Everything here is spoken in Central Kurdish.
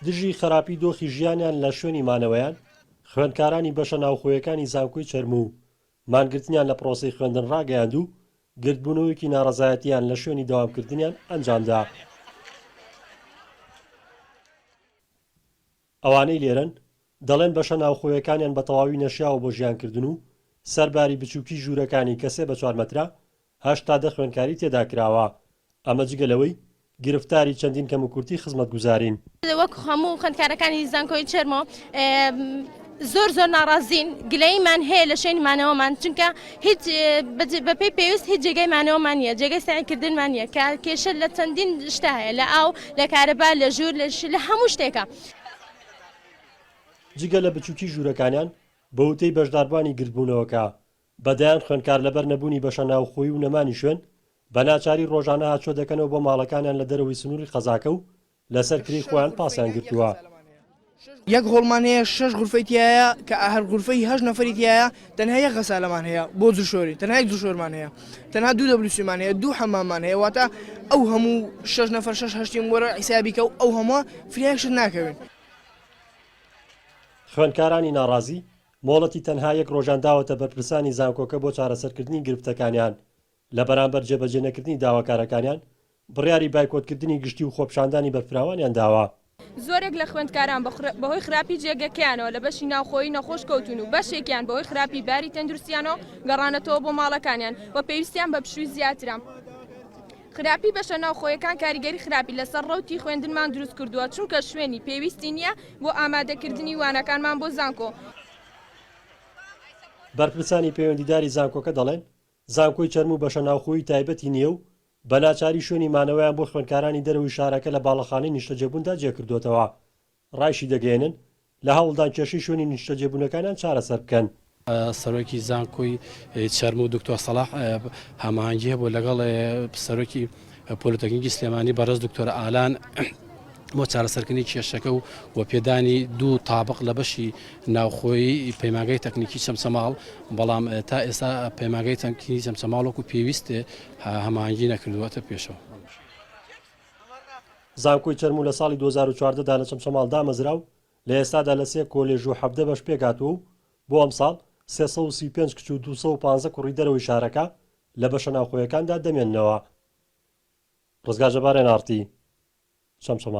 دژی خەراپی دۆخی ژیانیان لە شوێنی مانەوەیان، خوێندکارانی بەشە ناوخۆیەکانی زانکۆی چەرموو مانگرتنیان لە پرۆسەی خوێندن ڕاگەیاند و گردبوونەوەیەکی ناڕەزایەتییان لە شوێنی دەوامکردنیان ئەنجامدا. ئەوانەی لێرەن، دەڵێن بەشە ناوخۆیەکانیان بە تەواوی نەشیاوە بۆ ژیانکردن و سەر باری بچووکی ژوورەکانی کە سێ بە چوار مەترە، هەشت تا دە خوێندکاری تێدا کراوە. ئەمە جگە لەوەی گرفتاری چەندین کەموکورتی خزمەتگوزارین. وەک هەموو خوێندکارەکانی زانکۆی چێرمۆ، زۆر زۆر ناڕازین، گلەییمان هەیە لە شوێنی مانەوەمان، چونکە هیچ بەپێی پێویست هیچ جێگای مانەوەمان نییە، جێگەی سەعی کردنمان نییە، کە کێشە لە چەندین شتا هەیە، لە ئاو، لە کارەبا، لە ژوور، لە ش، لە هەموو شتێکا. جگە لە بچووکی ژوورەکانیان، بە وتەی بەشداربوانی گردبوونەوەکە، بە دەیان خوێندکار لەبەر نەبوونی بەشە ناوخۆیی و نەمانی شوێن، بە ناچاری ڕۆژانە هاتچۆ دەکەنەوە بۆ ماڵەکانیان لە دەرەوەی سنووری قەزاکە و لەسەر کری خۆیان پاسیان گرتووە. یەک هۆڵمان هەیە شەش غورفەی تیایە کە هەر غورفەی هەشت نەفەری تیایە تەنها یەک غەسالەمان هەیە بۆ جلشۆری تەنها یەک جلشۆرمان هەیە تەنها دوو دەبلوسیمان هەیە دوو حەماممان هەیە واتە ئەو هەموو شەش نەفەر شەش هەشتیم وەرە حیسابی کە ئەو هەمووە فرە یەک شت ناکەوین. خوێندکارانی ناڕازی، مۆڵەتی تەنها یەک ڕۆژیان داوەتە بەرپرسانی زانکۆکە بۆ چارەسەرکردنی گرفتەکانیان، لە بەرامبەر جێبەجێنەکردنی داواکارەکانیان، بڕیاری بایکۆتکردنی گشتی و خۆپیشاندانی بەرفراوانیان داوە. زۆرێک لە خوێندکاران بەهۆی خراپی جێگەکەیانەوە لە بەشی ناوخۆیی نەخۆش کەوتوون و بەشێکیان بەهۆی خراپی باری تەندروستییانەوە گەڕانەتەوە بۆ ماڵەکانیان و پێویستیان بە پشووی زیاترە. خراپی بەشە ناوخۆیەکان کاریگەری خراپی لەسەر ڕەوتی خوێندنمان دروستکردووە، چونکە شوێنی پێویستی نییە بۆ ئامادەکردنی وانەکانمان بۆ زانکۆ. بەرپرسانی پەیوەندیداری زانکۆکە دەڵێن، زانکۆی چەرم و بەشە ناوخۆیی تایبەتی نییە و بە ناچاری شوێنی مانەوەیان بۆ خوێندکارانی دەرەوەی شارەکە لە باڵەخانەی نیشتەجێبووندا جێکردووەتەوە. رایشیدەگەیەنن، لە هەوڵدان کێشەی شوێنی نیشتەجێبوونەکانیان چارەسەر بکەن. سەرۆکی زانکۆی چەرم و دکتۆر سەڵاح هەماهەنگی هەبوو لەگەڵ سەرۆکی. پۆلیتەکنیکی سلێمانی بەڕێز دکتۆر ئالان بۆ چارەسەرکردنی کێشەکە و و پێدانی دوو تابق لە بەشی ناوخۆی پەیماگەی تەکنیکی چەمچەماڵ بەڵام تا ئێستا پەیماگەی تەنکیی چەمچەماڵۆک و پێویستێ هەمانگی نەکردووەتە پێشەوە. زانکۆی چەرموو لە ساڵی دوو هەزار و چواردە دا لە چەمچەماڵ دامەزرا و لە ئێستادا لە سێ کۆلێژ و حەڤدە بەش پێکهاتووە و بۆ ئەمساڵ سێ سەد و سی و پێنج کچ و دوو سەد و پازدە کوڕی دەرەوەی شارەکە لە بەشە ناوخۆیەکاندا دەمێننەوە. ڕزگار جەبار ئێن ئاڕ تی چەمچەماڵ.